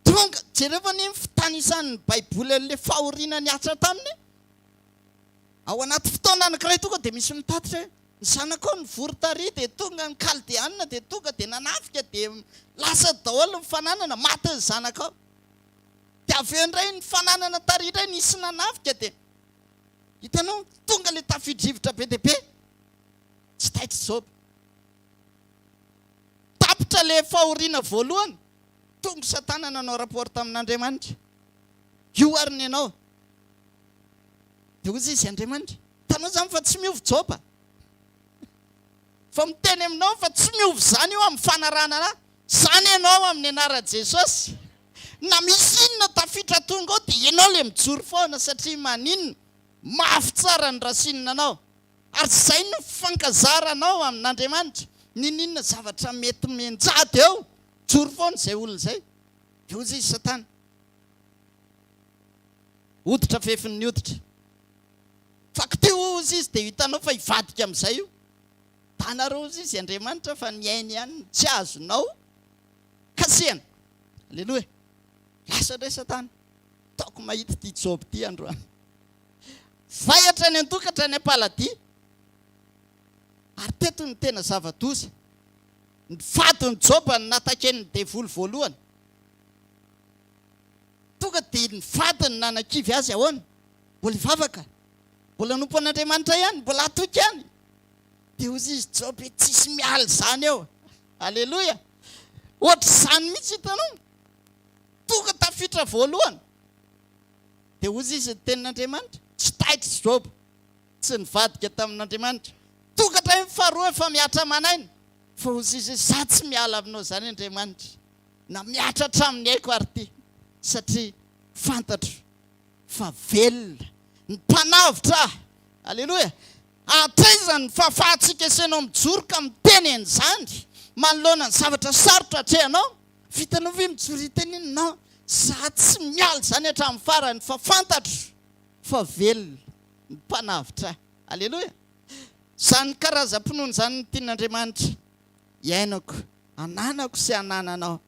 Tonga, jereo anie ny fitanisan'ny Baiboly an'ilay fahoriana nihatra taminy. Ao anaty fotoana anankiray tonga dia misy mitatitra hoe, Ny zanakao nivory tary, dia tonga ny Kaldeanina, dia tonga dia nanafika, dia lasa daholo ny fananana, maty ny zanakao. Dia avy eo indray ny fananana tary indray nisy nanafika, dia hitanao, tonga ilay tafio-drivotra be dia be. Tsy taitr'i Joba. Tapitra ilay fahoriana voalohany. Tongo satana nanao rapport tamin'Andriamanitra. Io ary ny anao. Dia hoy izy Andriamanitra, hitanao izany fa tsy miova Joba. Fa miteny aminao fa tsy miova izany io amin'ny fanarahana an'ahy. Izany ianao amin'ny anaran'i Jesosy. Na misy inona tafitra tonga ao dia ianao ilay mijoro foana satria maninona? Mafy tsara ny rasinina anao. Ary izay no fifankazaranao amin'Andriamanitra. N'inon'inona zavatra mety mianjady eo. Mijoro foana izay olona izay. Dia hoy izy, Satana. Hoditra fefin'ny hoditra. Fa kotia hoy izy dia hitanao fa hivadika amin'izay io. Hitanareo hoy izy, Andriamanitra fa ny ainy ihany no tsy azonao kasihana. Aleloia. Lasa indray Satana. Ataoko mahita ity Joba ity androany. Vaiatra any an-tokatra any am-paladia. Ary teto no tena zava-doza, ny fadin'i Joba no nataken'ny devoly voalohany. Tonga dia ny fadiny nanakivy azy ahoana? Mbola hivavaka? Mbola hanompo an'Andriamanitra ihany? Mbola hatoky ihany? Dia hoy izy Joba hoe tsisy miala izany eo. Aleloia! Ohatr'izany mihitsy hitanao. Tonga tafiditra voalohany. Dia hoy izy ny tenin'Andriamanitra, tsy taitry Joba. Tsy nivadika tamin'Andriamanitra. Tonga indray ny faharoa efa mihatra aman'aina, fa hozy izy hoe, Izaho tsy miala aminao izany Andriamanitra, na mihatra hatramin'ny aiko ary ity, satria fantatro fa velona ny mpanavotra ahy. Aleloia! Hatraiza ny fahafahantsika esenao mijoro ka miteny an'izany manoloana ny zavatra sarotra atrehanao? Vitanao ve mijoro hiteny hoe, Non, izaho tsy miala izany hatramin'ny farany, fa fantatro fa velona. ny Mpanavotra. Aleloia! Izany karazam-pinoana izany no tian'Andriamanitra hiainako, hananako sy hanananao.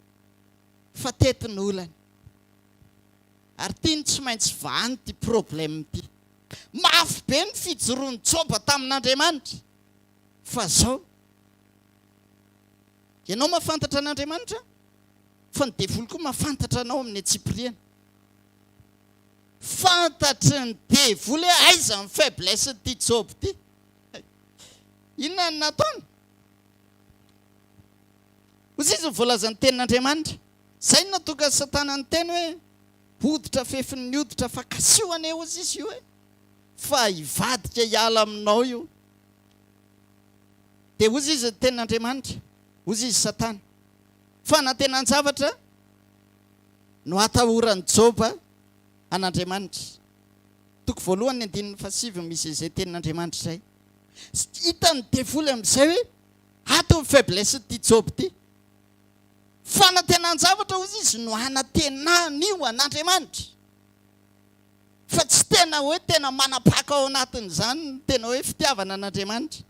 Fa teto ny olana. Ary tiany tsy maintsy vahany ity problème ity. Mafy be ny fijoroan'i Joba tamin'Andriamanitra. Fa izao. Ianao mahafantatra an'Andriamanitra? Fa ny devoly koa mahafantatra anao amin'ny antsipiriany. Fantatry ny devoly hoe aiza ny faiblesse n'ity Job ity. Inona no nataony? Hoy izy ny voalazan'ny tenin'Andriamanitra, izay no natonga Satana niteny hoe, Hoditra fefin'ny hoditra, fa kasiho anie hozy izy io e! fa hivadika hiala aminao io. Dia hozy izy ny tenin'Andriamanitra, hozy izy Satana, Fanantenan-javatra no atahoran'i Joba an'Andriamanitra. Toko voalohany andininy fahasivy no misy izay tenin'Andriamanitra izay. Hitan'ny devoly amin'izay hoe ato ny faiblesse-n'ity Joba ity. Fanantenan-javatra hozy izy no anantenany io an'Andriamanitra. Fa tsy tena hoe tena manapaka ao anatin'izany ny tena hoe fitiavana an'Andriamanitra.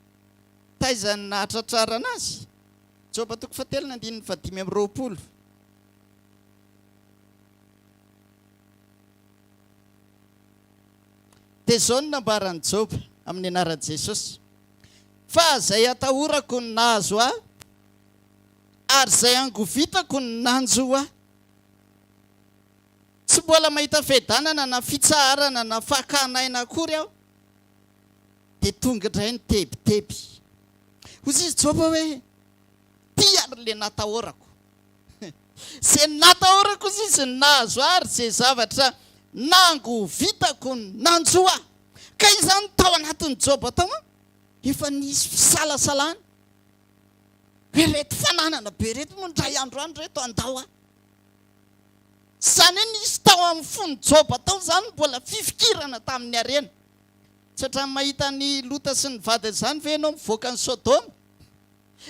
Taiza no nahatratrarana azy? Joba toko fahatelo ny andininy fahadimy amby roapolo. Dia izao no nambaran'i Joba amin'ny anaran'i Jesosy, Fa izay atahorako no nahazo ahy, ary izay angovitako no nanjo ahy. Tsy mbola mahita fiadanana na fitsaharana na fakàn'aina akory aho. dia tonga indray ny tebiteby. Hoy i Joba hoe, Ty ary ilay natahorako. Izay natahorako, hoy izy, no nahazo ahy, ary izay zavatra nangovitako no nanjo ahy. Ka izany tao anatin'i Joba tao, efa nisy fisalasalana hoe ireto fananana be ireto moa indray andro any ireto handao ahy. Tsy izany hoe nisy tao amin'ny fon'i Joba tao izany no mbola fifikirana tamin'ny harena. Tsy hatramin'ny mahita an'i Lota sy ny vadiny izany ve ianao mivoaka an'i Sodoma?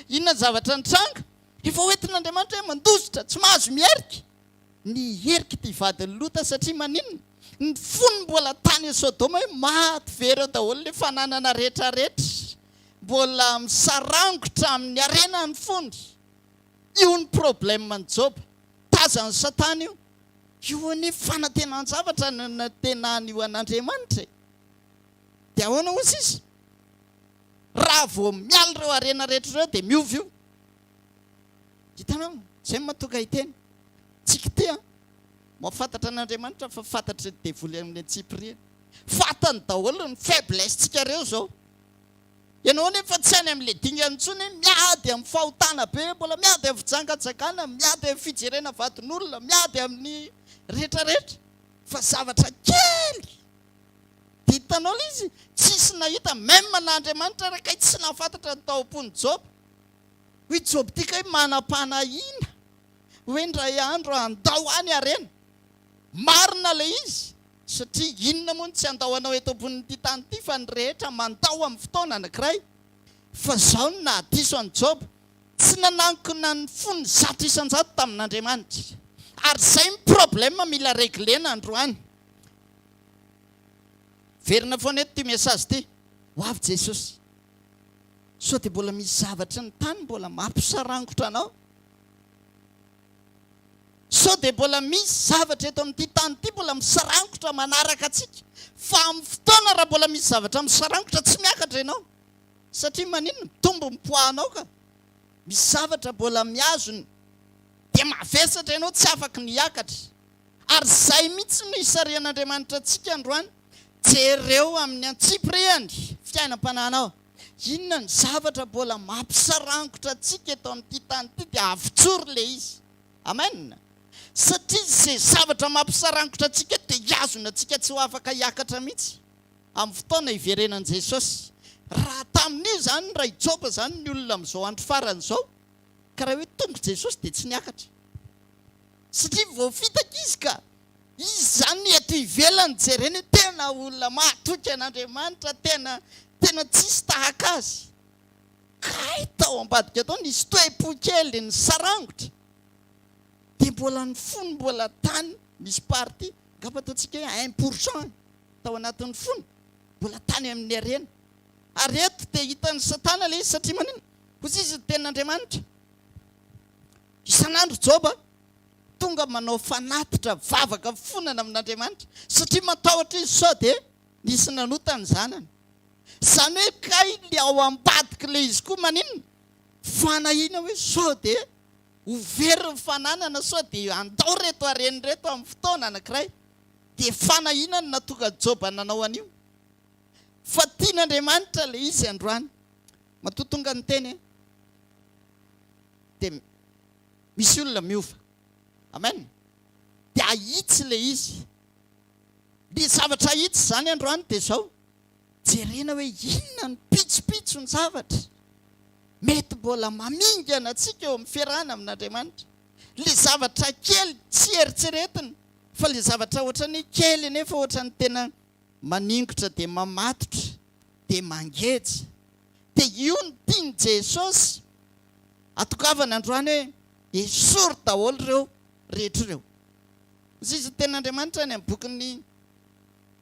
Inona ny zavatra nitranga? Efa hoentin'Andriamanitra hoe mandositra, tsy mahazo miherika. Niherika ity vadin'i Lota satria maninona? Ny fony mbola tany Sodoma hoe maty very ao daholo ilay fananana rehetrarehetra. Mbola misarangotra amin'ny harena ny fony. Io ny problème ny joba, tazan'ny satana io. Io anie fanatenan-javatra no natenany io an'Andriamanitra e! Dia ahoana ozy izy? Raha vao miala ireo harena rehetra ireo dia miova io. Hitanao? Izay no mahatonga hiteny. Tsy kitia an! Mahafantatra an'Andriamanitra fa fantatry ny devoly amin'ny antsipiriany. Fantany daholo ny faiblesse-ntsika ireo izao. Ianao anefa tsy any amin'ilay dingana intsony hoe miady amin'ny fahotana be, mbola miady amin'ny fijangajangana, miady amin'ny fijerena vadin'olona, miady amin'ny rehetra rehetra, fa zavatra kely dia hitanao ilay izy, tsisy nahita même na Andriamanitra ary kay tsy nahafantatra ny tao am-pon'i Joba. Hoy Joba ity kay manam-panahiana hoe indray andro handao ahy ny harena. Marina ilay izy Satria inona moa no tsy handao anao eto ambonin'ity tany ity fa ny rehetra mandao amin'ny fotoana anankiray? Fa izao no nahadiso an'i Joba, Tsy nanankina ny fony zato isan-jato tamin'Andriamanitra izy. Ary izay no problème mila regler-na androany. Miverina foana eto ity message ity. Ho avy Jesosy. Sao dia mbola misy zavatry ny tany mbola mampisarangotra anao? Sao dia mbola misy zavatra eto amin'ity tany ity mbola misarangotra manaraka antsika. Fa amin'ny fotoana raha mbola misy zavatra misarangotra tsy miakatra ianao. Satria maninona? Mitombo ny poids anao ka. Misy zavatra mbola mihazona. Dia mavesatra ianao tsy afaka ny hiakatra. Ary izay mihitsy no hisarihan'Andriamanitra antsika androany. Jereo amin'ny antsipirihany fiainam-panahinao. Inona ny zavatra mbola mampisarangotra antsika eto amin'ity tany ity dia avotsory ilay izy. Amen. Satria izay zavatra mampisarangotra antsika dia hihazona antsika tsy ho afaka hiakatra mihitsy amin'ny fotoana hiverenan'i Jesosy. Raha tamin'io izany Ray Joba izany ny olona amin'izao andro farany izao ka raha hoe tonga Jesosy dia tsy niakatra. Satria voafitaka izy ka. Izy izany ny eto ivelany jerena hoe tena olona mahatoky an'Andriamanitra, tena tena tsisy tahaka azy. Kay tao ambadika tao nisy toe-po kely nisarangotra. Dia mbola ny fony mbola tany misy partie, angamba ataontsika hoe un pour cent tao anatin'ny fony mbola tany amin'ny harena. Ary eto dia hitan'i Satana ilay izy satria maninona? Kosa izy ny tenin'Andriamanitra. Isan'andro Joba tonga manao fanatitra, vavaka, mifonana amin'Andriamanitra, satria matahotra izy sao dia nisy nanota ny zanany. Izany hoe kay le ao ambadik'i Lehizy koa maninona? Fanahiana hoe sao dia ho very ny fananana, sao dia handao reto hareny reto amin'ny fotoana anankiray. Dia fanahiana no nahatonga an'i Joba nanao an'io. Fa tian'Andriamanitra Lehizy androany. Matoa tonga ny teny e. dia misy olona miova. Amen. Dia ahitsy ilay izy. Ny zavatra ahitsy izany androany dia izao, jerena hoe inona ny pitsopitson'ny zavatra mety mbola mamingana antsika eo amin'ny fiarahana amin'Andriamanitra. Ilay zavatra kely tsy eritreretina fa ilay zavatra ohatran'ny kely anefa ohatran'ny tena maningotra dia mamatotra dia mangeja. dia io no tian'i Jesosy hatongavana androany hoe, esory daholo ireo rehetra ireo. Izay izao ny tenin'Andriamanitra any amin'ny bokin'ny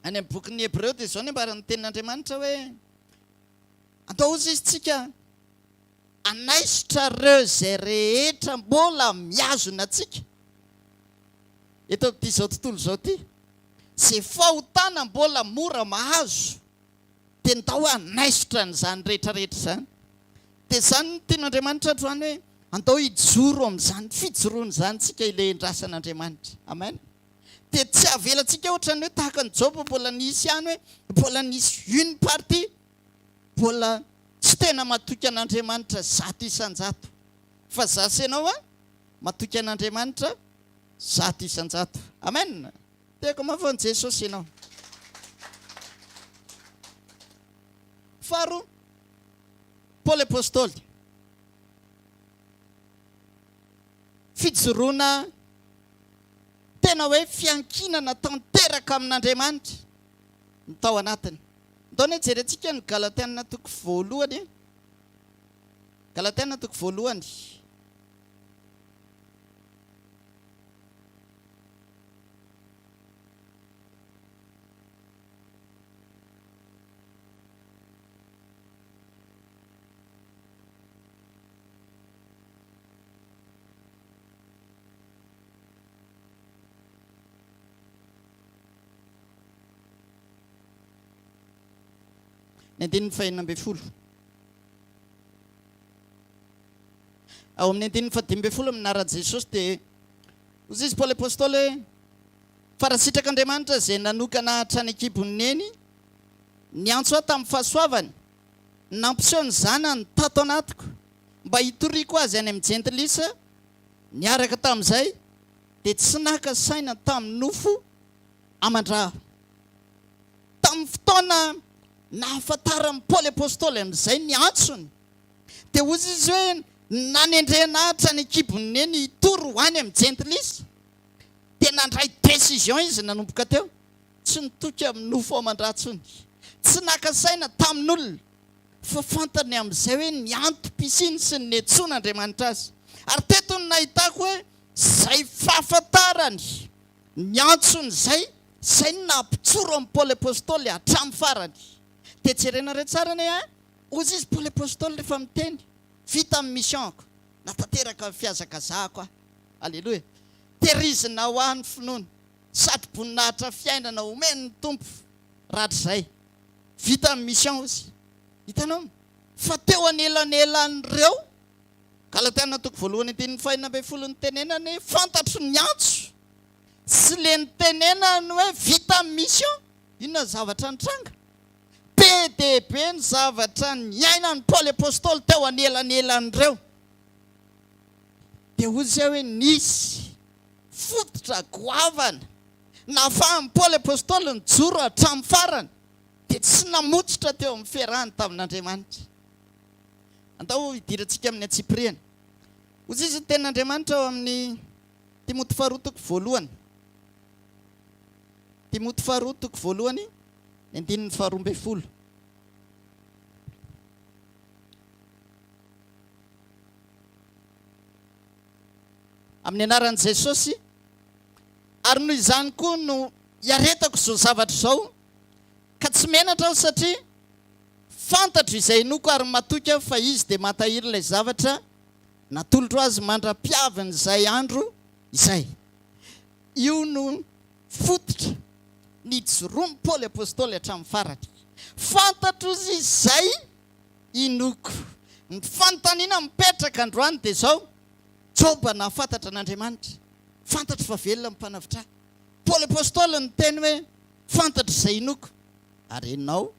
any amin'ny bokin'ny Hebreo dia izao ny ambaran'ny tenin'Andriamanitra hoe, andao hozy izy tsika hanaisotra ireo izay rehetra mbola mihazona antsika eto amin'ity izao tontolo izao ity, izay fahotana mbola mora mahazo. dia ndao hanaisotra an'izany rehetra rehetra izany. Dia izany no tian'Andriamanitra androany hoe andao hijoro amin'izany fijoroana izany tsika hilehendrasan' Andriamanitra. Amen. Dia tsy avelantsika ohatran'ny hoe tahaka an'i Joba mbola nisy ihany hoe mbola nisy une partie mbola tsy tena matoky an'Andriamanitra zato isan-jato. Fa za sy ianao an, matoky an'Andriamanitra zato isan-jato. Amen. Tiako mafy an'i Jesosy ianao. Faharoa, Paoly Apostoly. Fijoroana tena hoe fiankinana tanteraka amin'Andriamanitra ny tao anatiny. Ndao ny jerentsika ny Galatiana toko voalohany. Eh. Galatiana toko voalohany. Ny andininy fahenina ambin'ny folo. Ao amin'ny andininy fahadimy ambin'ny folo amin'Ara Jesosy dia hoy izy Paoly Apostoly hoe, Fa raha sitrak'Andriamanitra izay nanokana hatrany an-kibon'ny Neny, niantso ahy tamin'ny fahasoavany, nampiseho ny Zanany tato anatiko mba hitoriako Azy any amin'ny Jentilisa, niaraka tamin'izay dia tsy naka saina tamin'ny nofo aman-draha aho. Tamin'ny fotoana nahafantaran'i Paoly Apostoly amin'izay ny antsony, dia hoy izy hoe, Nanendren'Atra any an-kibon'ny Neny hitory ho any amin'ny Jentilisa. Dia nandray décision izy nanomboka teo. Tsy nitoky amin'ny nofo aman-drà intsony. Tsy naka saina tamin'olona, fa fantany amin'izay hoe ny antom-pisiany sy ny niantsoan'Andriamanitra azy. Ary teto no nahitako hoe izay fahafantarany. Ny antsony izay, izay no naha-mpitsoro an'i Paoly Apostoly hatramin'ny farany. Dia jerena re tsara anie an! Hozy izy Paoly Apostoly rehefa miteny, Vita ny mission-ko, natanteraka ny fihazakazahako aho. Aleloia! Tehirizina ho ahy ny finoana, sady boninahitra fiainana omen'ny Tompo rahatrizay. Vita ny mission hozy. Hitanao? Fa teo anelanelan'ireo. Galatiana toko voalohany andininy fahenina ambin'ny folo Nitenenany hoe fantatro ny antso sy le nitenenany hoe vita ny mission Inona ny zavatra nitranga? Be dia be ny zavatra niainan'i Paoly Apostoly teo anelanelan'ireo Dia hoy isika hoe nisy fototra goavana nahafahan'i Paoly Apostoly nijoro hatramin'ny farany Dia tsy namototra teo amin'ny fiarahany tamin'Andriamanitra Andao hidirantsika amin'ny antsipiriany. Hozizy ny tenin'Andriamanitra ao amin'ny Timoty faharoa toko voalohany. Timoty faharoa toko voalohany, ny andininy faharoa ambin'ny folo. Amin'ny anaran'i Jesosy, ary noho izany koa no iaretako izao zavatra izao, ka tsy menatra aho satria Fantatro izay inoako ary matoky aho fa izy dia mantahiry ilay zavatra natolotro azy mandra-piavin'izay andro izay. Io no fototra nijoroan'i Paoly Apostoly hatramin'ny farany. Fantatro izy izay inoako. Ny fanontaniana mipetraka androany dia izao, Joba nahafantatra an'Andriamanitra? Fantatro fa velona ny mpanavitr'ahy. Paoly Apostoly niteny hoe, Fantatro izay inoako, ary ianao?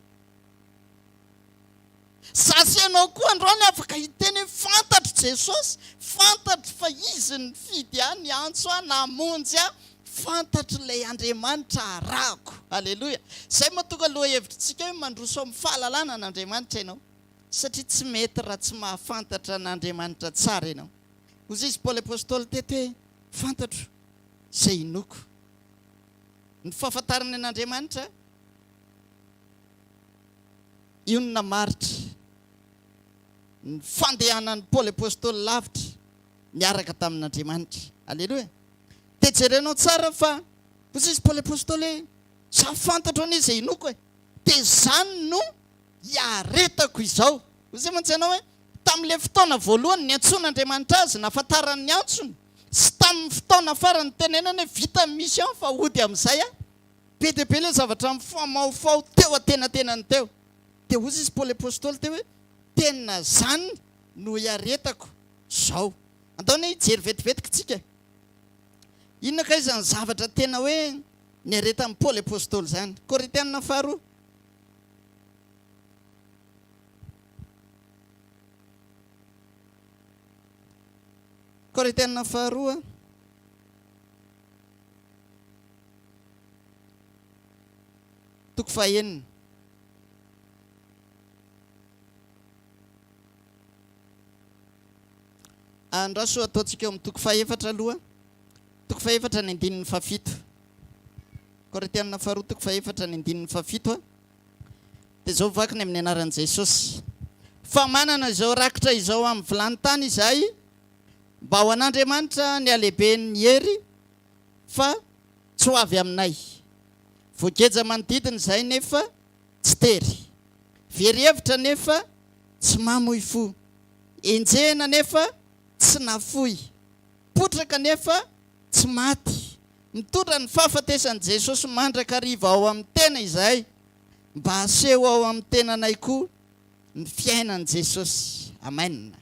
Za sy ianao koa androany afaka hiteny hoe fantatro Jesosy, fantatro fa Izy nifidy ahy, niantso ahy, namonjy ahy, fantatro ilay Andriamanitra arahako. Aleloia. Izay mahatonga lohahevitritsika hoe mandroso amin'ny fahalalana an'Andriamanitra ianao, satria tsy mety raha tsy mahafantatra an'Andriamanitra tsara ianao. Hoy izy Paoly Apostoly teto hoe fantatro izay inoako. Ny fahafantarana an'Andriamanitra. Inona maritra ny fandehanan'i Paoly Apostoly lavitra niaraka tamin'Andriamanitra? Aleloia! Dia jerenao tsara fa hoy izy Paoly Apostoly hoe, Izaho fantatro anie izay inoako e, dia izany no iaretako izao. Hoy izay mantsy ianao hoe, tamin'ilay fotoana voalohany niantsoan'Andriamanitra azy, nahafantarany ny antsony, sy tamin'ny fotoana farany nitenenany hoe, vita ny mission fa hody amin'izay aho, Be dia be ilay zavatra mifamahofaho teo antenatenany teo. Dia hozy izy Paoly Apostoly teo hoe, Tena izany no iaretako izao. Andao anie hijery vetivety kitsika e. Inona kay izany zavatra tena hoe niaretan'i Paoly Apostoly izany? Korintiana faharoa. Korintiana faharoa. Toko fahenina. Andraso ataontsika eo amin'ny toko fahefatra aloha. Toko fahefatra ny andininy fahafito. Korintianina faharoa toko fahefatra ny andininy fahafito. Dia izao vaky ny amin'ny anaran'i Jesosy. Fa manana izao rakitra izao amin'ny vilany tany izahay. Mba ho an'Andriamanitra ny halehiben'ny hery fa tsy ho avy aminay. Voageja manodidina izay nefa tsy tery. Very hevitra nefa tsy mamoy fo. Enjehina nefa tsy nafoy. Potraka nefa tsy maty. Mitondra ny fahafatesan'i Jesosy mandrakariva ao amin'ny tena izahay mba haseho ao amin'ny tenanay koa ny fiainan'i Jesosy. Amen.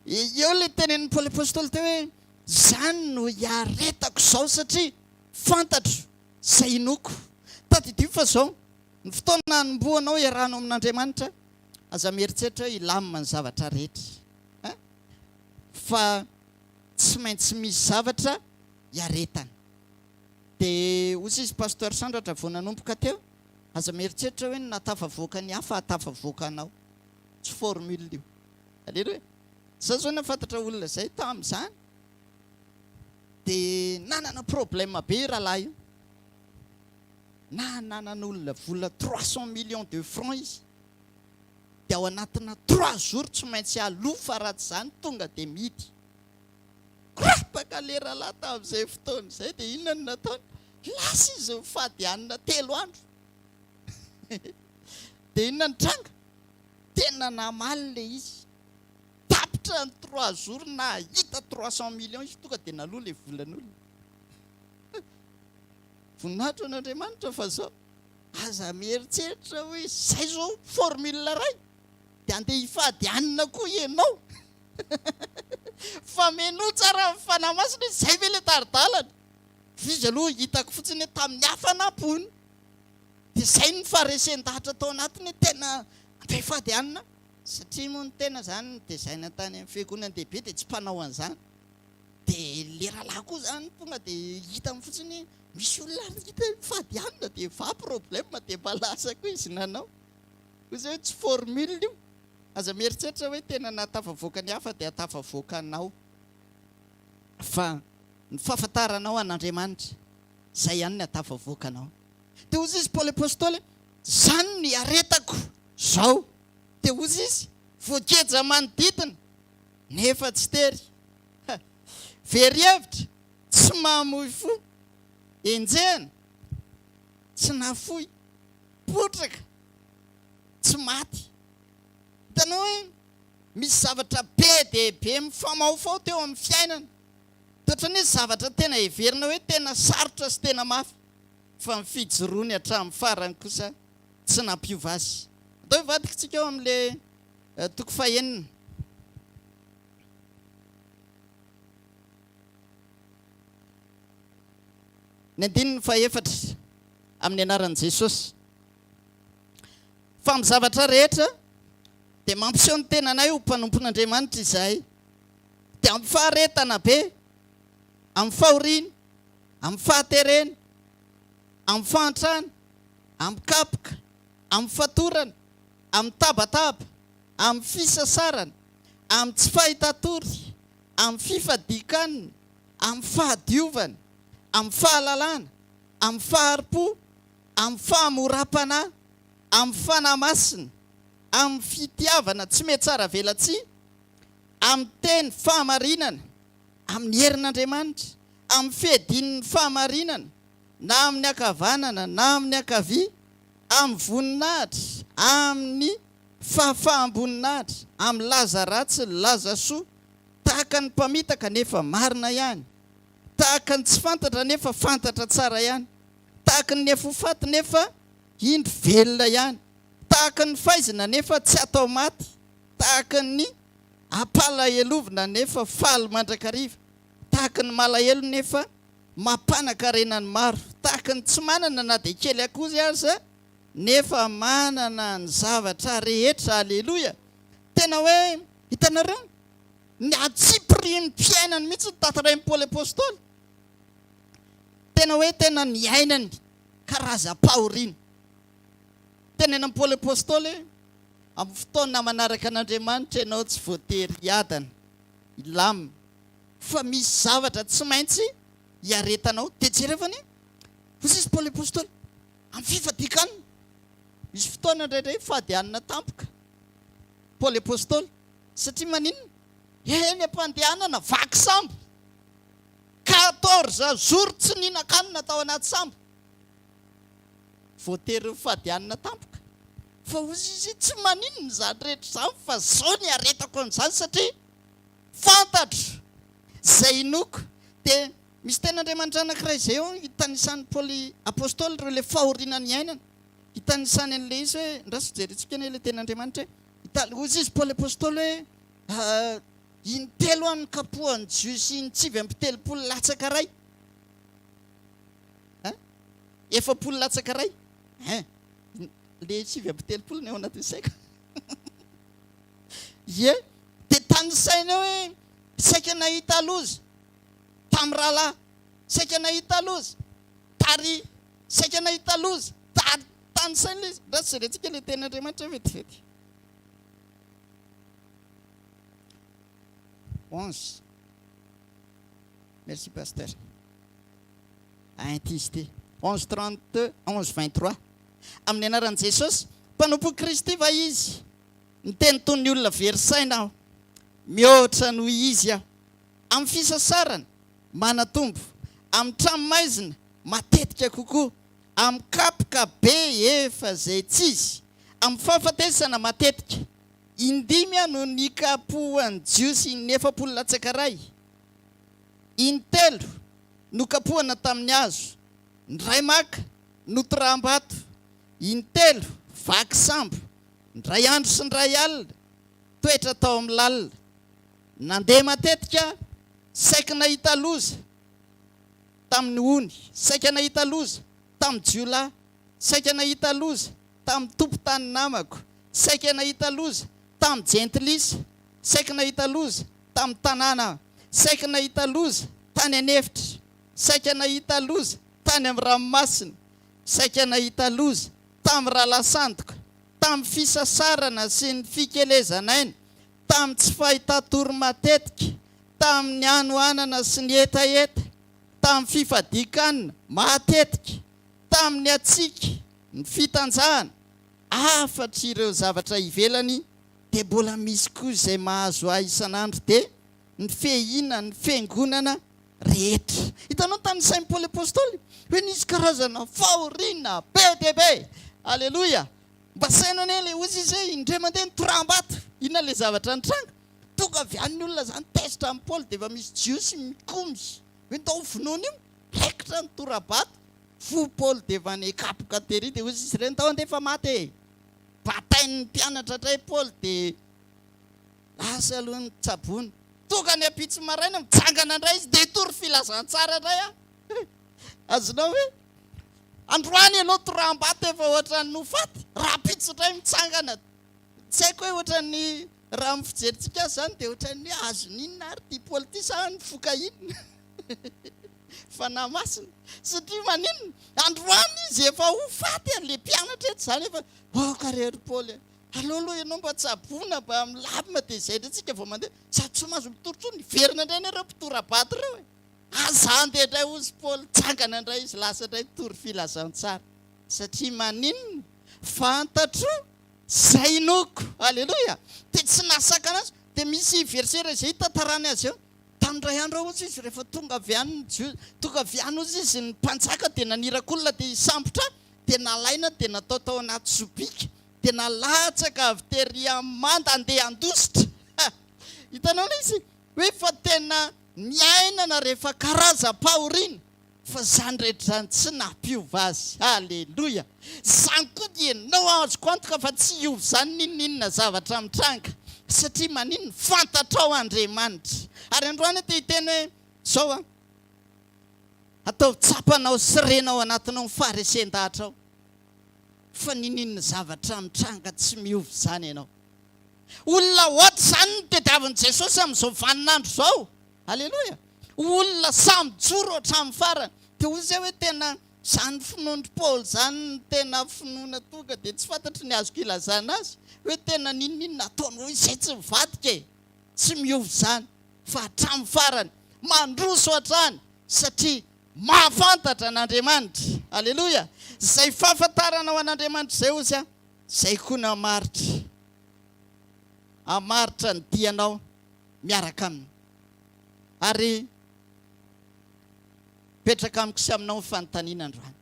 Eo ilay tenenin'i Paoly Apostoly teo hoe, Izany no iaretako izao satria fantatro izay inoako. Tadidio fa izao, ny fotoana hanombohanao hiarahanao amin'Andriamanitra, aza mieritreritra hoe hilamina ny zavatra rehetra. Hein? Fa tsy maintsy misy zavatra iaretana. Dia hoy izy, Pasteur Sandratra, vao nanomboka teo, Aza mieritreritra hoe ny nahatafavoaka ny hafa hahatafavoaka anao. Tsy formule io. Aleloia. Za zao nahafantatra olona zay tamzany de nanana problème be io rahalahy io. Na nanan'olona vola trois cent millions de francs izy de ao anatina trois jours tsy maintsy alofa raha tsy zany tonga de mity. Korotaka le rahalahy tamin'izay fotoana izay dia inona no nataony? Lasa izy nifady hanina telo andro. Dia inona ny tranga? Tena namaly le izy. Tapitra ny trois jours nahita trois cent millions izy tonga dia naloa le volan'olona. Voninahitra an'Andriamanitra fa zao. Aza mieritreritra hoe zay zao formule iray dia andeha hifady hanina koa ianao. Fa menoa tsara amin'ny Fanahy Masina izy, izay ve ilay tari-dalana? Izy aloha hitako fotsiny hoe tamin'ny hafanam-po hono dia izay ny faharesen-dahatra tao anatiny hoe tena am-pehifady any na. Satria moa ny tena izany notezaina tany amin'ny fiangonan-dehibe dia tsy mpanao an'izany. Dia ilay rahalahy koa izany tonga dia hitany fotsiny hoe misy olona ary hita hoe mifady any na dia va problème dia mba lasa koa izy nanao. Hoy izay hoe tsy formule io. Aza mieritreritra hoe tena nahatafavoaka ny hafa dia hahatafavoaka anao. Fa ny fahafantaranao an'Andriamanitra, izay ihany ny hahatafavoaka anao. Dia hozy izy Paoly Apostoly, izany no iaretako izao. Dia hozy izy, voageja manodidina, nefa tsy tery. Ha! Very hevitra, tsy mahamoy fo. Enjehina. tsy nafoy, potraka, tsy maty. Hitanao hoe misy zavatra be dia be mifamaofao teo amin'ny fiainana, dia ohatran'ny hoe zavatra tena heverina hoe tena sarotra sy tena mafy, fa ny fijoroany hatramin'ny farany kosa tsy nampiova azy. Atao hivadikantsika ao amin'ilay toko fahenina. Ny andininy fahefatra, Amin'ny anaran'i Jesosy. Fa amin'ny zavatra rehetra dia mampiseho ny tenanay ho mpanompon'Andriamanitra izahay, dia amin'ny faharetana be, amin'ny fahoriana, amin'ny fahaterena, amin'ny fahantrana, amin'ny kapoka, amin'ny fatorana, amin'ny tabataba, amin'ny fisasarana, amin'ny tsy fahitatory, amin'ny fifadian-kanina, amin'ny fahadiovana, amin'ny fahalalana, amin'ny fahari-po, amin'ny fahamoram-panahy, amin'ny fanahy masina, amin'ny fitiavana tsy mihatsaravelatsihy, amin'ny teny fahamarinana, amin'ny herin'Andriamanitra, amin'ny fiadian'ny fahamarinana, na amin'ny ankavanana na amin'ny ankavia, amin'ny voninahitra, amin'ny fahafaham-boninahitra, amin'ny laza ratsy, ny laza soa. Tahaka ny mpamitaka nefa marina ihany. Tahaka ny tsy fantatra nefa fantatra tsara ihany. Tahaka ny afoy faty nefa indro velona ihany. Tahaka ny faizina nefa tsy atao maty. Tahaka ny ampalahelovina nefa faly mandrakariva. Tahaka ny malahelo nefa mampanakarena ny maro. Tahaka ny tsy manana na dia kely akory aza nefa manana ny zavatra rehetra. Aleloia! Tena hoe, hitanareo, ny antsipirian'ny fiainany mihitsy no tantarain'i Paoly Apostoly. Tena hoe tena niainany karazam-pahoriana. Tenenin'i Paoly Apostoly hoe, amin'ny fotoana manaraka an'Andriamanitra ianao tsy voatery hiadana, hilamina, fa misy zavatra tsy maintsy hiaretanao. Dia jereo fa ny, hozy izy Paoly Apostoly, amin'ny fifadian-kanina. Misy fotoana indraindray fady hanina tampoka. Paoly Apostoly, satria maninona? Eny am-pandehanana vaky sambo, quatorze jours tsy nihinan-kanina tao anaty sambo, voatery nifady hanina tampoka. Fa hozy izy, tsy maninona izany rehetra izany fa izao ny iaretako an'izany satria fantatro izay inoako. Dia misy tenin'Andriamanitra anankiray izay eo itanisan'i Paoly Apostoly ireo ilay fahoriana niainany. Itanisany an'ilay izy hoe, Andraso jerentsika anie ilay tenin'Andriamanitra e! Ita-. Hoy izy Paoly Apostoly hoe, Ah, intelo aho nokapohan'ny Jiosy intsivy amby telopolo latsaka iray. Hein? Efapolo latsaka iray. Hein? Ilay sivy amby telopolo ny ao anatin'ny saiko. Ie, dia tanisainy hoe, saika nahita loza tamin'ny rahalahy, saika nahita loza tary. Saika nahita loza, tady tany saina ilay izy. Ndao jerentsika ilay tenin'Andriamanitra vetivety. Onze. Merci pasteur. À intensité. Onze trente, onze vingt trois. Amin'ny anaran'i Jesosy, mpanompon'i Kristy va Izy? Miteny toy ny olona very saina aho. Mihoatra noho Izy aho. Amin'ny fisasarana, manatombo. Amin'ny tranomaizina, matetika kokoa. Amin'ny kapoka be efa izay tsy izy. Amin'ny fahafatesana, matetika. Indimy no nikapohan'ny Jiosy ny efapolo latsaka iray. Intelo nokapohana tamin'ny hazo. Ny iray maka, notoraham-bato. Intelo vaky sambo. Indray andro sy indray alina, toetra tao amin'ny lalina. Nandeha matetika, saiky nahita loza tamin'ny ony, saika nahita loza tamin'ny jiolahy, saika nahita loza tamin'ny tompon-tany namako, saika nahita loza tamin'ny jentilisa, saiky nahita loza tamin'ny tanàna aho, saiky nahita loza tany an'efitra, saika nahita loza tany amin'ny ranomasina, saika nahita loza tamin'ny ralansandiko, tamin'ny fisasarana sy ny fikelezan'aina, tamin'ny tsy fahitatory matetika, tamin'ny hanoanana sy ny hetaheta, tamin'ny fifadian-kanina matetika, tamin'ny hatsiaka, ny fitanjahana, hafatr' ireo zavatra ivelany, dia mbola misy koa izay mahazo ahy isan'andro, dia ny fehinan' ny Fiangonana rehetra. Hitanao ny tanisain'i Paoly Apostoly? Hoe nisy karazana fahoriana be dia be. Aleloia! Mba saino anie le ozy izy hoe indray mandeha nitoraham-bato, inona le zavatra nitranga? Tonga avy any ny olona zany tezitra an'i Paoly dia efa misy Jiosy mikomy hoe ndao ho vonoina io, raikitra ny tora-bato, voa Paoly dia efa any kapoka tery dia ozy izy ireny ndao handeha fa maty e! Batain'ny mpianatra ndray Paoly dia lasa aloha ny tsaboina. Tonga ny ampitso maraina, mitsangana ndray izy dia hitory filazantsara ndray an! Azonao ve? Androany ianao toram-bato efa ohatran'ny ho faty, rahampitso indray mitsangana. Tsy haiko hoe ohatran'ny, raha amin'ny fijerintsika azy izany dia ohatran'ny hoe azon'inona ary ity Paoly ity sa nifoka inona? Fanahy Masina. Satria maninona? Androany izy efa ho faty ary ilay mpianatra eto izany efa, aoka re ry Paoly a! Aleo aloha ianao mba tsaboina mba milamina dia izay indray isika vao mandeha. Sady tsy mahazo mitory intsony, hiverina indray anie ireo mpitora-bato ireo e! Aza andeha indray hozy i Paoly, tsangana indray izy, lasa indray nitory filazantsara. Satria maninona? Fantatro izay inoako. Aleloia! Dia tsy nahasakana azy. Dia misy verset iray izay hitantarany azy eo. Tamin'ny iray andro ao hozy izy rehefa tonga avy any ny Jiosy, tonga avy any hozy izy ny mpanjaka dia naniraka olona dia hisambotra ahy, dia nalaina dia natao tao anaty sobika, dia nalatsaka avy terỳ amin'ny manda handeha handositra. Hitanao ilay izy? Hoe fa tena niainana re fa karazam-pahoriana fa zany rehetra zany tsy nampiova azy Alléluia zany koa dia no azoko antoka fa tsy hiova zany n'inon'inona zavatra mitranga satria maninona fantatrao Andriamanitra ary androany aho te hiteny hoe zao an ataovy tsapanao sy rena ao anatinao ny faharesen-dahatra ao fa n'inon'inona zavatra mitranga tsy miova zany ianao Olona ohatr izany no tediavin'i Jesosy amin'izao vanin'andro izao. Aleloia. Ho olona sahy mijoro hatramin'ny farany. Dia hoy izay hoe tena izany finoan-dry Paoly izany no tena finoana tonga dia tsy fantatro ny azoko ilazana azy hoe tena n'inon'inona ataonao izay tsy mivadika e. Tsy miova izany fa hatramin'ny farany mandroso hatrany satria mahafantatra an'Andriamanitra. Aleloia. Izay fahafantaranao an'Andriamanitra izay hozy aho Izay koa no hamaritra, hamaritra ny dianao miaraka aminy. Ary mipetraka amiko sy aminao ny fanontaniana androany.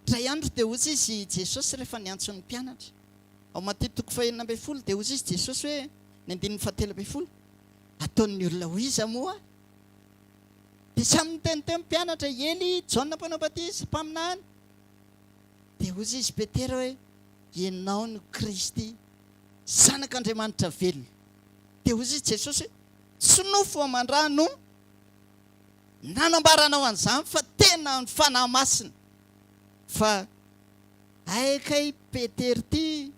Indray andro dia hoy izy Jesosy rehefa niantso ny mpianatra. Ao Maty toko fahenina ambin'ny folo dia hoy izy Jesosy hoe, ny andininy fahatelo ambin'ny folo, Ataon'ny olona ho iza moa? Dia samy niteny teo ny mpianatra, I Elia, i Jaona mpanao batisa, mpaminany. Dia hoy izy Petera hoe, Ianao no Kristy, Zanak'Andriamanitra velona. Dia hoy izy Jesosy hoe, Tsy nofo aman-draha no nanambara anao an'izany fa tena ny Fanahy Masina. Fa hay kay Petera ity,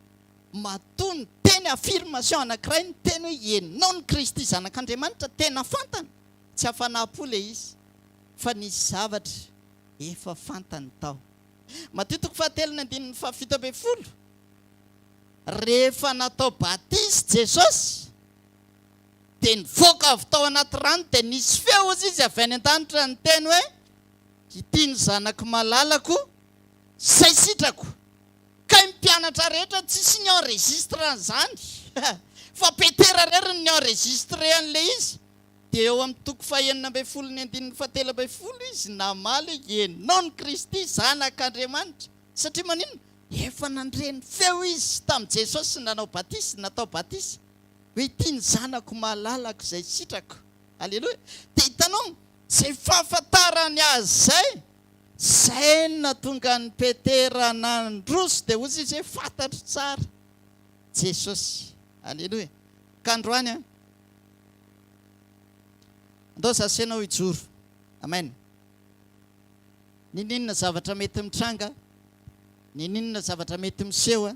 matoa niteny affirmation anankiray, niteny hoe Ianao no Kristy, Zanak'Andriamanitra, tena fantany, tsy hafanam-po ilay izy, fa nisy zavatra efa fantany tao. Matio toko fahatelo ny andininy fahafito ambin'ny folo, Rehefa natao batisa i Jesosy, dia nivoaka avy tao anaty rano, dia nisy feo, hozy Izy, avy any an-danitra, niteny hoe, Ity ny Zanako malalako, Izay sitrako. Kay ny mpianatra rehetra tsisy ni enregistre an'izany, fa Petera irery no ni enregistrer an'ilay izy. Dia eo amin'ny toko fahenina ambin'ny folo ny andininy fahatelo ambin'ny folo izy namaly hoe, Ianao no Kristy, Zanak'Andriamanitra. Satria maninona? Efa nandre ny feo izy tamin'i Jesosy sy nanao batisa, natao batisa, hoe, Ity ny Zanako malalako izay sitrako. Aleloia! Dia hitanao, izay fahafantarany azy izay, izay no nahatonga an'i Petera nandroso, dia hozy izy hoe, Fantatro tsara Jesosy. Aleloia! Ka androany an! Andao za sy ianao hijoro. Amen. Ninoninona zavatra mety mitranga, ninoninona zavatra mety miseho,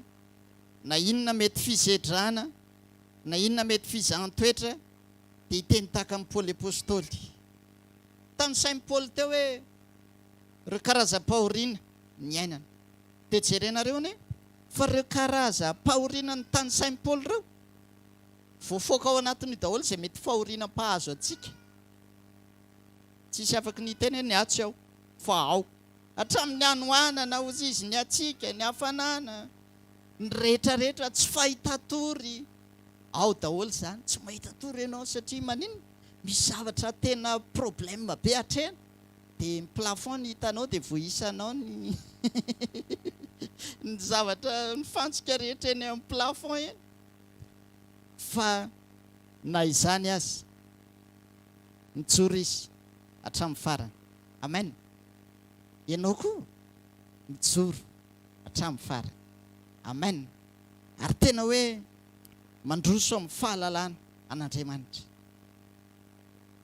na inona mety fizedrana, na inona mety fizahan-toetra, dia hiteny tahaka an'i Paoly Apostoly. Tanisain'i Paoly teo hoe ireo karazam-pahoriana niainany. Dia jerenareo anie fa ireo karazam-pahoriana notanisain'i Paoly ireo, Voafoaka ao anatin'io daholo izay mety fahoriana mpahazo antsika. Tsisy afaky ny hiteny hoe ny ahy tsy ao, fa ao. Hatramin'ny hanoanana, hozizin'ny hatsiaka, ny hafanana, ny rehetra rehetra, tsy fahitatory, ao daholo izany. Tsy mahita tory ianao satria maninona? Misy zavatra tena problème be hatrena. Dia ny plafond no hitanao dia voisanao ny ny zavatra, ny fantsika rehetra eny amin'ny plafond eny. fa na izany aza mijoro izy hatramin'ny farany. Amen. Ianao koa mijoro hatramin'ny farany. Amen. Ary tena hoe mandroso amin'ny fahalalana an'Andriamanitra.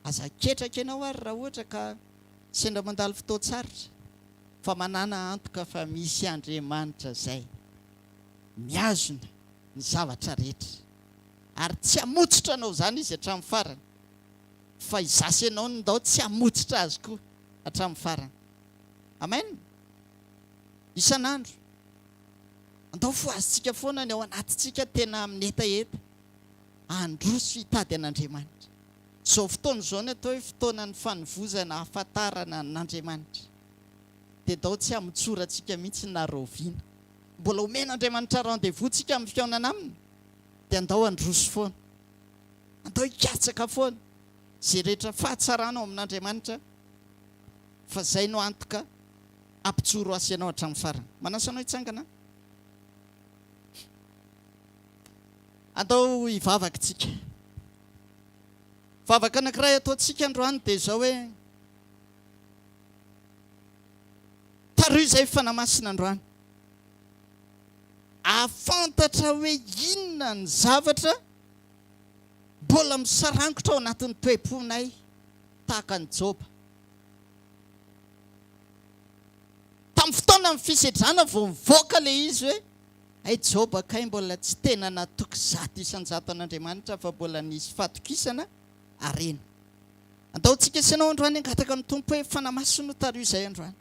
Aza ketraka ianao ary raha ohatra ka sendra mandalo fotoan-tsarotra fa manàna antoka fa misy Andriamanitra izay mihazona. ny zavatra rehetra, ary tsy hamotsotra anao izany izy hatramin'ny farany, fa izaho sy ianao no ndao tsy hamotsotra azy koa hatramin'ny farany. Amen. Isan'andro, andao fohazitsika foana ny ao anatintsika tena amin'ny hetaheta, handroso hitady an'Andriamanitra. Izao fotoana izao no atao hoe fotoanan'ny fanovozana, hahafantarana an'Andriamanitra. Dia ndao tsy hamotsorantsika mihitsy na rahoviana. mbola omen'Andriamanitra rendez-vous ntsika amin'ny fihaonana aminy dia andao handroso foana, andao hikatsaka foana izay rehetra fahatsarana ao amin'Andriamanitra fa izay no antoka hampijoro azy ianao hatramin'ny farany. Manasa anao hitsangana aho. Andao hivavaka isika. Vavaka anankiray ataontsika androany dia izao hoe. Taroy izay fanamasina androany. Ahafantatra hoe inona ny zavatra mbola misarangotra ao anatin'ny toe-ponay tahaka an'i Joba. Tamin'ny fotoanan'ny fisedrana vao nivoaka ilay izy hoe, Hay Joba kay mbola tsy tena natoky zato isan-jato an'Andriamanitra fa mbola nisy fatokisana harena. Andaotsika sy ianao androany hangataka amin'ny Tompo hoe, Fanamaso no tario izay androany.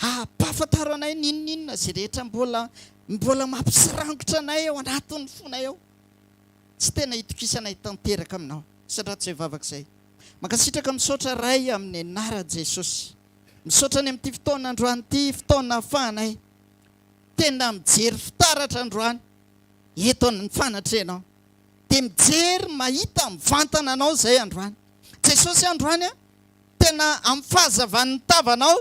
Ampahafantaro anay ny inon'inona izay rehetra mbola mbola mampisarangotra anay ao anatin'ny fonay ao. Tsy tena itokisanay tanteraka aminao. Sandrato izay vavaka izay. Mankasitraka misaotra Ray amin'ny anaran'i Jesosy. Misaotra ny amin'ity fotoana androany ity, fotoana ahafahanay tena mijery fitaratra androany eto amin'ny fanatrehanao. dia mijery mahita mivantana anao izay androany Jesosy androany a! tena amin'ny fahazavan'ny tavanao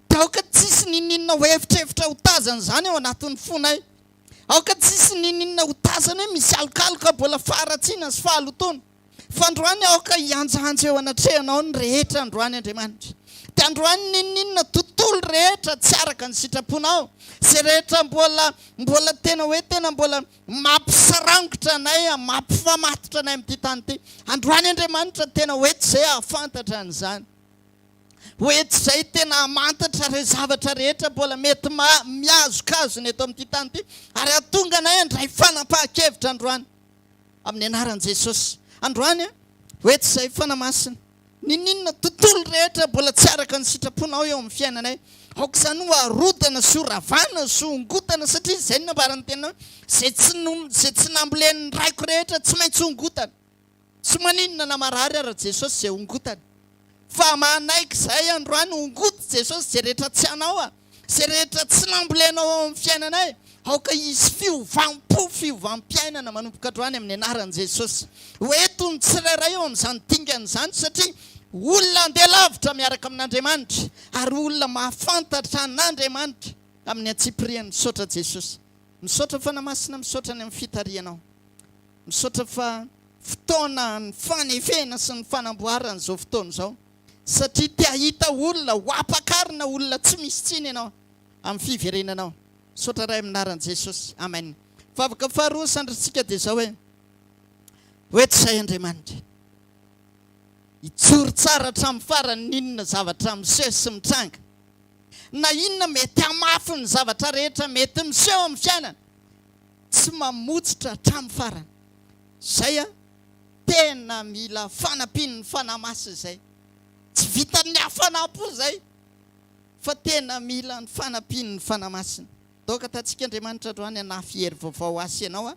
dia aoka tsisy ninoninona ho evitrevitra ho tazana izany ao anatin'ny fonay aoka tsisy ninoninona ho tazana hoe misy alokaloka mbola faharatsiana sy fahalotoana fa androany aoka hianjanja eo anatrehanao ny rehetra androany Andriamanitra dia androany ninoninona tontolo rehetra tsy araka ny sitraponao izay rehetra mbola mbola tena hoe tena mbola Mampisarangotra anay, mampifamatotra anay amin'ity tany ity. Androany Andriamanitra tena hoe tsy izay hahafantatra an'izany. Hoe tsy izay tena hamantatra ireo zavatra rehetra mbola mety mihazokazona eto amin'ity tany ity. Ary hahatonga anay handray fanapahan-kevitra androany. Amin'ny anaran'i Jesosy. Androany, hoe tsy izay Fanahy Masina. N'inon'inona tontolo rehetra mbola tsy araka ny sitraponao eo amin'ny fiainanay, aoka izany ho arodana sy ho ravana sy ho hongotana, satria izay no nambaran'ny Teninao, izay tsy izay tsy nambolen'ny raiko rehetra tsy maintsy hongotana. Tsy maninona na marary ara Jesosy izay hongotana. Fa manaiky izahay androany hongoty Jesosy izay rehetra tsy anao an. Izay rehetra tsy nambolenao ao amin'ny fiainanay, aoka hisy fiovam-po, fiovam-piainana manomboka androany amin'ny anaran'i Jesosy. Ho eto ny tsirairay eo amin'izany dingana izany satria olona handeha lavitra miaraka amin'Andriamanitra ary olona mahafantatra an'Andriamanitra amin'ny antsipiriany. Misaotra Jesosy. Misaotra Fanahy Masina, misaotra ny amin'ny fitarihanao. Misaotra fa fotoana ny fanefena sy ny fanamboarana izao fotoana izao. Satria te hahita olona ho ampakarina olona tsy misy tsiny ianao amin'ny fiverenanao. Misaotra Ray amin'ny anaran'i Jesosy. Amen. Vavaka faharoa ny sandrintsika dia izao hoe, Hoeto izahay Andriamanitra. Hijoro tsara hatramin'ny farany ny inona zavatra miseho sy mitranga. Na inona mety hamafy ny zavatra rehetra mety miseho amin'ny fiainana. Tsy mamotsitra hatramin'ny farany. Izay an. Tena mila fanampian'ny Fanahy Masina izay. Tsy vitan'ny hafanam-po izay fa tena mila ny fanampian'ny Fanahy Masina. Daoka tatsika Andriamanitra androany hanafy hery vaovao ho ahy sy ianao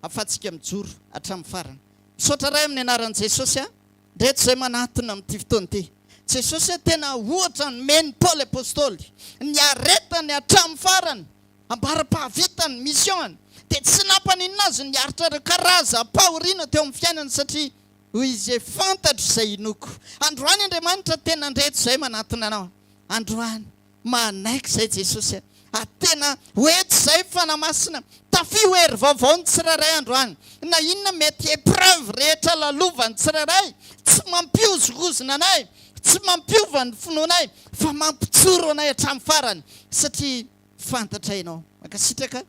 ahafahantsika mijoro hatramin'ny farany. Misaotra Ray amin'ny anaran'i Jesosy aho ndreto izay manatona amin'ity fotoana ity. Jesosy a, tena ohatra nomen'i Paoly Apostoly, niaretany hatramin'ny farany. Ambara-pahavitany, mission-ny, dia tsy nampaninona azy ny aritra ireo karazam-pahoriana teo amin'ny fiainany satria hoy izy hoe, Fantatro izay hinoako. Androany Andriamanitra tena handreto izay manatona anao. Androany, manaiky izay Jesosy a! Ary tena ho eto izay Fanahy Masina. Tafiho hery vaovao ny tsirairay androany. Na inona mety épreuve rehetra lalovan'ny tsirairay, tsy mampihozongozona anay, tsy mampiova ny finoanay, fa mampijoro anay hatramin'ny farany. Satria. fantatra ianao. Mankasitraka.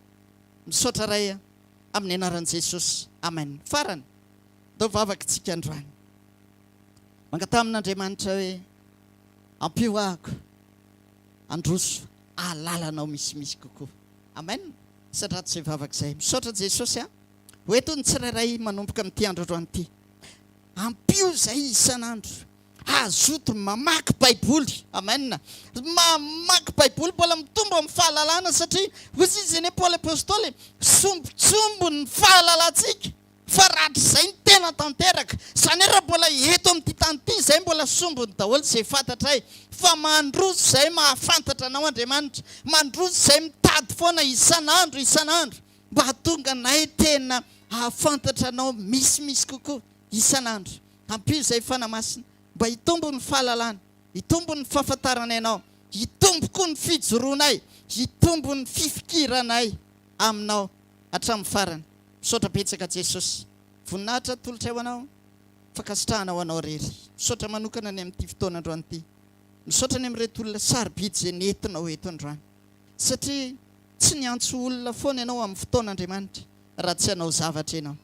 Misaotra Ray a. Amin'ny anaran'i Jesosy. Amen. Farany. Atao vavaka isika androany. Mangataha amin'Andriamanitra hoe, Ampio ahako handroso ahalalana Ao misimisy kokoa. Amen. Misaotra ato izay vavaka izay. Misaotra Jesosy a. Ho eto ny tsirairay manomboka amin'ity andro androany ity. Ampio izay isan'andro. Hazoto mamaky baiboly. Amen. Mamaky baiboly mbola mitombo amin'ny fahalalana satria hoy izy izay anie Paoly apostoly sombitsombo ny fahalalantsika fa rahatrizay ny tena tanteraka. Izany hoe raha mbola eto amin'ity tany ity izay mbola sombiny daholo izay fantatray fa mandroso izay mahafantatra anao Andriamanitra. Mandroso izay mitady foana isan'andro isan'andro mba hahatonga anay tena hahafantatra anao misimisy kokoa isan'andro. Ampio izay Fanahy Masina mba hitombo ny fahalalana, hitombo ny fahafantarana Ianao, hitombo koa ny fijoroanay, hitombo ny fifikiranay Aminao hatramin'ny farany. Misaotra betsaka Jesosy. Voninahitra atolotray ho Anao. Fankasitrahana ho Anao irery. Misaotra manokana ny amin'ity fotoana androany ity. Misaotra ny amin'ireto olona sarobidy izay nentinao eto androany. Satria tsy niantso olona foana Ianao amin'ny fotoana Andriamanitra raha tsy hanao zavatra Ianao.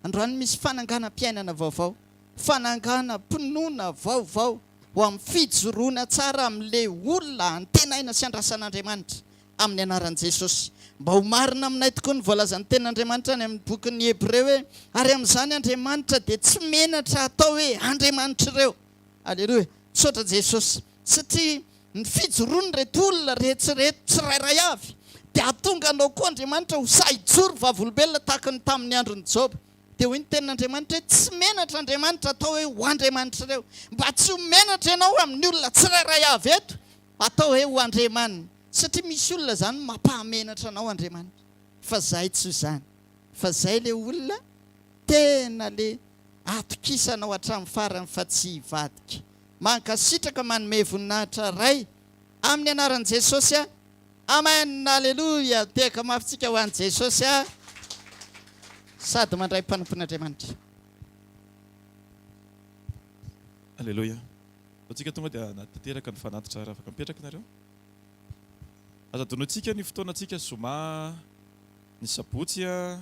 Androany misy fananganam-piainana vaovao, fananganam-pinoana vaovao ho amin'ny fijoroana tsara amin'ilay olona antenaina sy andrasan'Andriamanitra amin'ny anaran'i Jesosy. Mba ho marina aminay tokoa ny voalazan'ny Tenin'Andriamanitra any amin'ny bokin'ny Hebreo hoe, Ary amin'izany Andriamanitra dia tsy menatra hatao hoe Andriamanitr'ireo. Aleloia! Misaotra Jesosy satria. Ny fijoroan'ireto olona rehetra ireto tsirairay avy dia hahatonga anao koa Andriamanitra ho sahy hijoro vavolombelona tahaka ny tamin'ny andron'i Joba. Dia hoy ny Tenin'Andriamanitra hoe, Tsy menatra Andriamanitra atao hoe ho andriamanitr'ireo, mba tsy ho menatra ianao amin'ny olona tsirairay avy eto atao hoe ho andriamaniny, satria misy olona izany no mampahamenatra anao Andriamanitra. Fa izahay tsy izany, fa izay ilay olona tena ilay hatokisanao hatramin'ny farany fa tsy hivadika. Mankasitraka manome voninahitra Ray amin'ny anaran'i Jesosy a! Amen Aleloia tehaka mafy tsika ho an'i Jesosy a! Sady mandray mpanompon'Andriamanitra. Aleloia. Vao tsika tonga dia na tanteraka ny fanatitra raha afaka mipetraka nareo. Aza donointsika ny fotoana tsika zoma ny sabotsy a!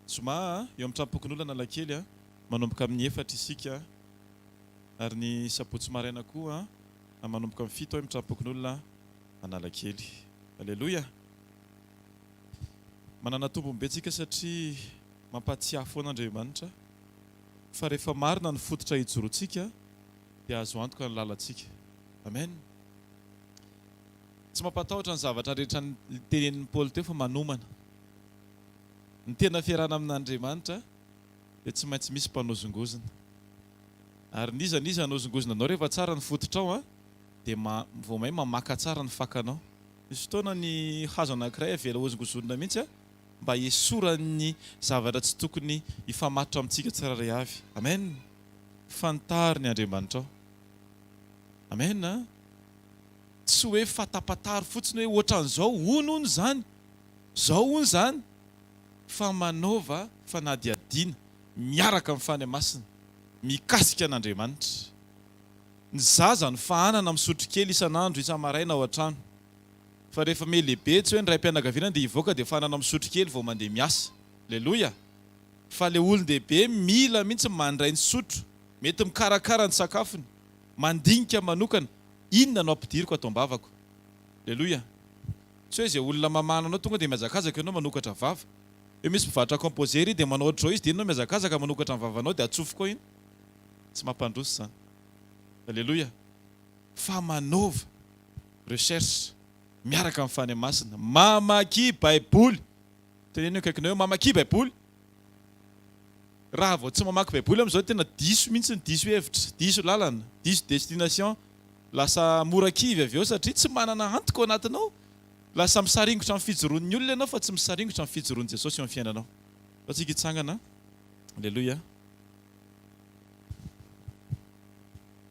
Zoma a! Eo amin'ny tranompokon'olona analakely a! Manomboka amin'ny efatra isika. ary ny sabotsy maraina koa manomboka amin'ny fito emin'ny tram-pokonolona Analakely. Aleloia! Manana tombony be isika satria mampahatsiahy foana Andriamanitra fa rehefa marina ny fototra ijoroantsika dia azo antoka ny lalantsika. Amen! Tsy mampatahotra ny zavatra rehetra ny tenenin'i Paoly teo fa manomana ny tena fiarahana amin'Andriamanitra. dia tsy maintsy misy mpanozongozona. Ary n'iza n'iza hanozongozona anao rehefa tsara ny fototrao an, dia ma, vao may mamaka tsara ny fakanao. Misy fotoana ny hazo anankiray avela hozongozonina mihitsy an, mba hiesoran'ny zavatra tsy tokony hifamatotra amintsika tsirairay avy. Amen! Fantaro ny Andriamanitrao. Amen an! Tsy hoe fantapantaro fotsiny hoe ohatran'izao, hono hono izany, izao hono izany. fa manaova fanadihadiana miaraka amin'ny fanahy masina mikasika an'Andriamanitra. Ny zaza no fahanana misotro kely isan'andro isa-maraina ao an-trano. Fa rehefa me lehibe tsy hoe ny raim-pianakaviana dia hivoaka dia fahanana misotro kely vao mandeha miasa. Aleloia! Fa ilay olon-dehibe mila mihitsy mandray ny sotro, mety mikarakara ny sakafony, mandinika manokana, inona no ampidiriko ato am-bavako. Aleloia! Tsy hoe izay olona mamahana anao tonga dia mihazakazaka ianao manokatra vava. Eo misy mpivarotra composé ery dia manao ohatr'izao izy dia iny ianao mihazakazaka manokatra ny vavanao dia atsofoko ao iny. Tsy mampandroso izany. Aleloia. Fa manaova recherche miaraka amin'ny Fanahy Masina. Mamakia Baiboly. Teneno ny akaikinao eo, Mamakia Baiboly. Raha vao tsy mamaky baiboly amin'izao tena diso mihitsy ny diso hevitra, diso lalana, diso destination, lasa mora kivy avy eo satria tsy manana antoko ao anatinao, lasa misaringotra amin'ny fijoroan'ny olona ianao fa tsy misaringotra amin'ny fijoroan'i Jesosy eo amin'ny fiainanao. Sao tsika hitsangana? Aleloia.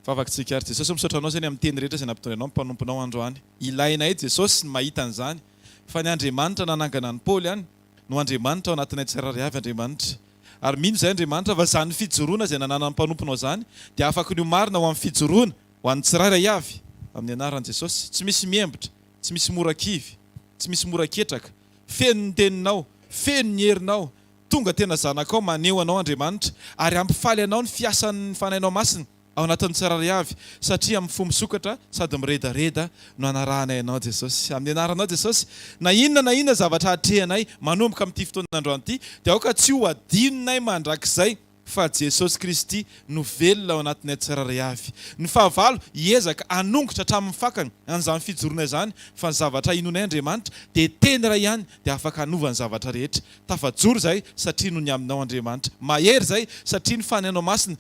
Vavakitsika ary Jesosy o misaotra anao zany amin'ny teny rehetra izay nampitony anao ny mpanomponao androany. Ilainay Jesosy ny mahita an'izany fa ny Andriamanitra nanangana an'i Paoly any, no Andriamanitra ao anatinay tsirairay avy Andriamanitra. Ary mino izay Andriamanitra fa izany fijoroana izay nananan'ny mpanomponao izany dia afaka ny ho marina ho amin'ny fijoroana ho an'ny tsirairay avy amin'ny anaran'i Jesosy. Tsy misy miembotra, tsy misy mora kivy, tsy misy mora ketraka. Feno ny teninao, feno ny herinao, tonga tena zanakao, maneho anao Andriamanitra ary hampifaly anao ny fiasan'ny Fanahinao Masina. ao anatin'ny tsirairay avy, satria amin'ny fo misokatra sady miredareda no anarahanay Anao Jesosy. Amin'ny Anaranao Jesosy, na inona na inona zavatra hatrehanay manomboka amin'ity fotoana androany ity, dia aoka tsy ho adinonay mandrakizay fa Jesosy Kristy no velona ao anatinay tsirairay avy. Ny fahavalo hiezaka hanongotra hatramin'ny fakany an'izany fijoroana izany, fa ny zavatra inoanay Andriamanitra dia Teny iray ihany dia afaka hanova ny zavatra rehetra. Tafajoro izay satria no ny aminao Andriamanitra. Mahery izay satria ny fanahinao masina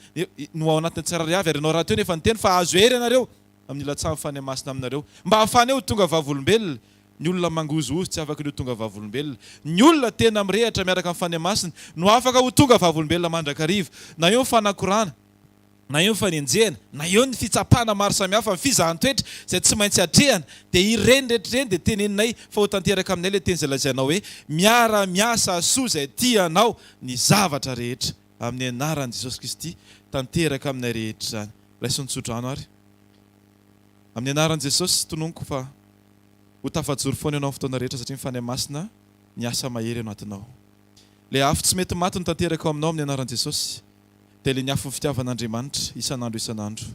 no ao anatin'ny tsirairay avy. Ary ianao rahateo no efa niteny fa hahazo hery ianareo amin'ny ilatsahan'ny fanahy masina aminareo mba hahafahany ho tonga vavolombelona. Ny olona mangozohozo tsy afaka ny ho tonga vavolombelona. Ny olona tena mirehatra miaraka amin'ny fanahy masina no afaka ho tonga vavolombelona mandrakariva. Na eo ny fanakorana. na eo ny fanenjehana, na eo ny fitsapana maro samihafa, ny fizahan-toetra izay tsy maintsy atrehana, dia ireny rehetra ireny dia teneninay fa ho tanteraka aminay ilay teny izay lazainao hoe, Miara-miasa hahasoa izay tia anao ny zavatra rehetra, amin'ny anaran'i Jesosy Kristy, tanteraka aminay rehetra izany. Raiso ny tsodrano ary. Amin'ny anaran'i Jesosy, tononiko fa ho tafajoro foana ianao amin'ny fotoana rehetra satria ny Fanahy Masina miasa mahery ao anatinao. Ilay afo tsy mety maty no tanteraka ao aminao amin'ny anaran'i Jesosy. dia ilay ny afon'ny fitiavan'Andriamanitra isan'andro isan'andro.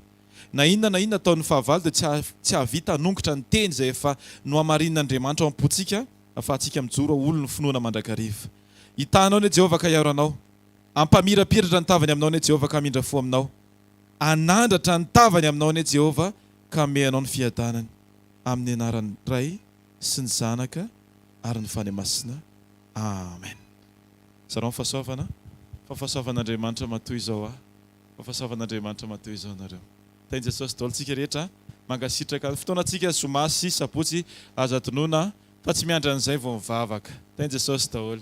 Na inona na inona ataon'ny fahavalo dia tsy hahavita hanongotra ny teny izay efa nohamarinin'Andriamanitra ao am-pontsika afahantsika mijoro ho olon'ny finoana mandrakariva. Hitahanao anie Jehovah ka hiaro anao. Hampamirapiratra ny tavany aminao anie Jehovah ka hamindra fo aminao. Hanandratra ny tavany aminao anie Jehovah ka hamehy anao ny fiadanany. Amin'ny anaran'ny Ray sy ny Zanaka ary ny Fanahy Masina. Amen. Zarao ny fahasoavana fa fahasoavan'Andriamanitra matoa izao aho fa fahasoavan'Andriamanitra matoa izao nareo. Tahin'i Jesosy daholo tsika rehetra a. Mankasitraka. Ny fotoana tsika zoma sy sabotsy aza adinoina fa tsy miandry an'izay vao mivavaka. Tahin'i Jesosy daholo.